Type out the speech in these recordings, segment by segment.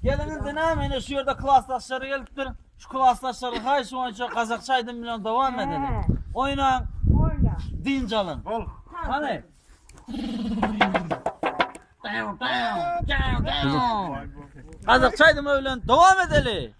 Geliňiz ine meni şu ýerde klasdaşlar gelipdir. Şu klasdaşlara haýyş boýunça gazakça aýdym bilen dowam edelim. Oýnaň, Oyna. dynç alyň. Bol. Hany. Gazakça aýdymy bilen dowam edeli.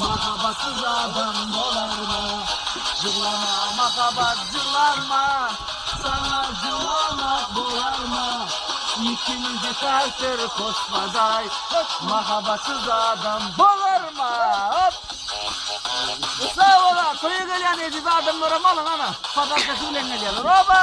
Mahabatsyz adam bolarmy? Jyglama mahabat jyglanma, Saňa jylamak bolarmy? Ikimizi takdyr kosmaday, Mahabatsyz adam bolarmy? Sag bol-a, toýa gelýän eziz adamlaram alyň ana, podarkasy bilen gelýärler. Oba!